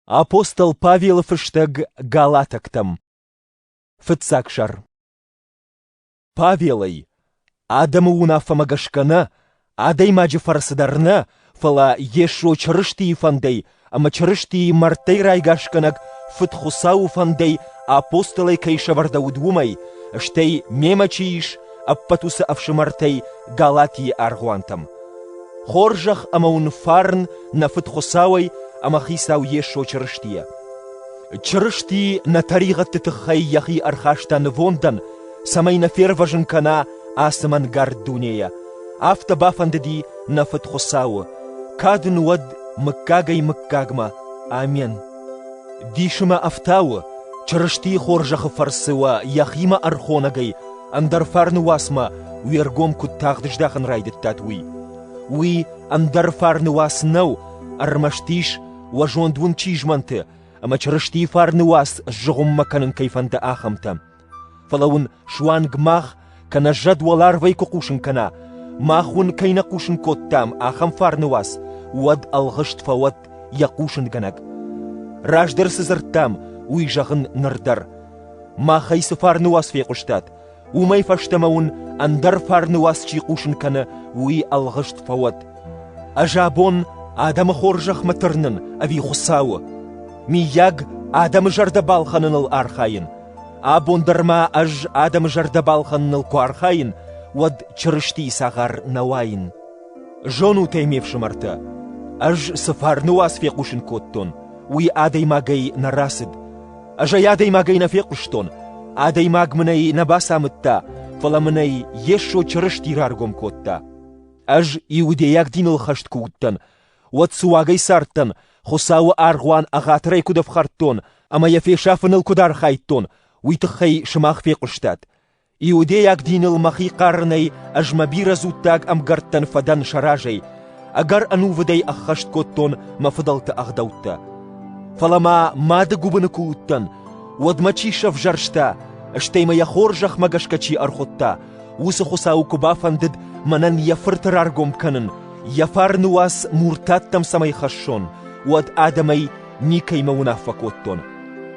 Апостол Павелы фыстӕг галатӕгтӕм Фыццаг сӕр Павелӕй адӕмы уынаффӕмӕ гӕсгӕ нӕ, адӕймаджы фӕрцы дӕр нӕ, фӕлӕ Йесо Чырыстийы фӕндӕй ӕмӕ Чырыстийы мӕрдтӕй райгасгӕнӕг Фыд-Хуыцауы фӕндӕй апостолӕй кӕй сӕвӕрдӕуыд, уымӕй, стӕй мемӕ чи ис, ӕппӕт уыцы ӕфсымӕртӕй Галатийы аргъуантӕм. Хорзӕх ӕмӕ уын фарн нӕ Фыд Хуыцауӕй ӕмӕ Хицау Йесо Чырыстийӕ. Чырысти нӕ тӕригъӕдты тыххӕй йӕхи ӕрхаста нывондӕн, цӕмӕй нӕ фервӕзын кӕна ацы мӕнгард дунейӕ. Афтӕ бафӕндыди нӕ Фыд Хуыцауы. Кад ын уӕд мыггагӕй-мыггагмӕ. Амен. Дисы мӕ ӕфтауы, Чырыстийы хорзӕхы фӕрцы уӕ йӕхимӕ ӕрхонӕгӕй ӕндӕр фарны уацмӕ уе ргом куыд тагъд здахын райдыдтат, уый. Уый ӕндӕр фарны уац нӕу, ӕрмӕст ис, уӕ зонд уын чи змӕнты, ӕмӕ Чырыстийы фарны уац сзыгъуыммӕ кӕнын кӕй фӕнды, ахӕмтӕ. Фӕлӕ уын суанг мах, кӕнӕ зӕд уӕларвӕй куы хъусын кӕна, мах уын кӕй нӕ хъусын кодтам, ахӕм фарны уац, уӕд ӕлгъыст фӕуӕд йӕ хъусынгӕнӕг. Раздӕр цы дзырдтам, уый зӕгъын ныр дӕр. Мах ӕй цы фарны уац фехъуыстат, уымӕй фӕстӕмӕ уын ӕндӕр фарны уац чи хъусын кӕны, уый ӕлгъыст фӕуӕд. Ӕз абон адӕмы хорзӕхмӕ тырнын ӕви Хуыцауы? Миййаг, адӕмы зӕрдӕ балхӕныныл архайын? Абон дӕр ма ӕз адӕмы зӕрдӕ балхӕныныл куы архайын, уӕд Чырыстийы цагъар нӕ уаин. Зонут ӕй, ме фсымӕртӕ, ӕз цы фарны уац фехъусын кодтон, уый адӕймагӕй нӕ рацыд. Ӕз ӕй адӕймагӕй нӕ фехъуыстон, адӕймаг мын ӕй нӕ бацамыдта, фӕлӕ мын ӕй Йесо Чырысти раргом кодта. Ӕз иудейаг диныл хӕст куы уыдтӕн, уӕд суагӕй цардтӕн, Хуыцауы аргъуан ӕгъатырӕй куыд ӕфхӕрдтон ӕмӕ йӕ фесафыныл куыд архайдтон, уый тыххӕй сымах фехъуыстат. Иудейаг диныл мӕхи хъарынӕй ӕз мӕ бирӕ дзуттаг ӕмгӕрттӕн фӕдӕн сӕ разӕй, ӕгӕр ӕнувыдӕй ӕххӕст кодтон мӕ фыдӕлты ӕгъдӕуттӕ. Фӕлӕ ма мады гуыбыны куы уыдтӕн, уӕд мӕ чи сӕвзӕрста, стӕй мӕ йӕ хорзӕхмӕ гӕсгӕ чи ӕрхуыдта, уыцы Хуыцауы куы бафӕндыд мӕнӕн йӕ фырты раргом кӕнын, йӕ фарны уац муртаттӕм цӕмӕй хӕссон, уӕд адӕмӕй никӕймӕ уынаффӕ кодтон.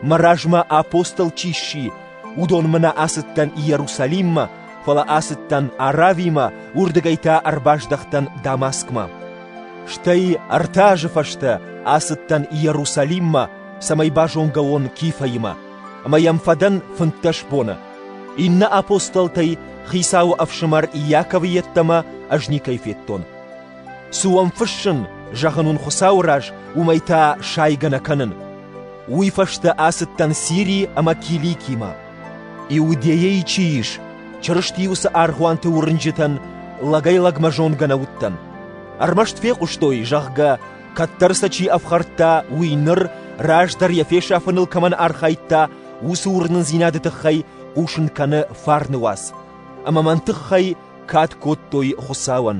Мӕ размӕ апостол чи сси, Уыдонмӕ нӕ ацыдтӕн Иерусалиммӕ, фӕлӕ ацыдтӕн Аравимӕ, уырдыгӕй та ӕрбаздӕхтӕн Дамаскмӕ. Стӕй ӕртӕ азы фӕстӕ ацыдтӕн Иерусалиммӕ, цӕмӕй базонгӕ уон Кифӕимӕ, ӕмӕ йӕм фӕдӕн фынддӕс боны. Иннӕ апостолтӕй Хицауы ӕфсымӕр Иаковы йеддӕмӕ ӕз никӕй федтон. Цы уӕм фыссын, зӕгъын уын Хуыцауы раз, уымӕй та сайгӕ нӕ кӕнын. Уый фӕстӕ ацыдтӕн Сирийы ӕмӕ Киликимӕ. Иудейӕйы чи ис, Чырысти уыцы аргъуанты уырнджытӕн лӕгӕй-лӕгмӕ зонгӕ нӕ уыдтӕн. Ӕрмӕст фехъуыстой, зӕгъгӕ, кӕддӕр сӕ чи ӕфхӕрдта, уый ныр, раздӕр йӕ фесафыныл кӕмӕн архайдта, уыцы уырнындзинады тыххӕй хъусын кӕны фарны уац. Ӕмӕ мӕн тыххӕй кад кодтой Хуыцауӕн.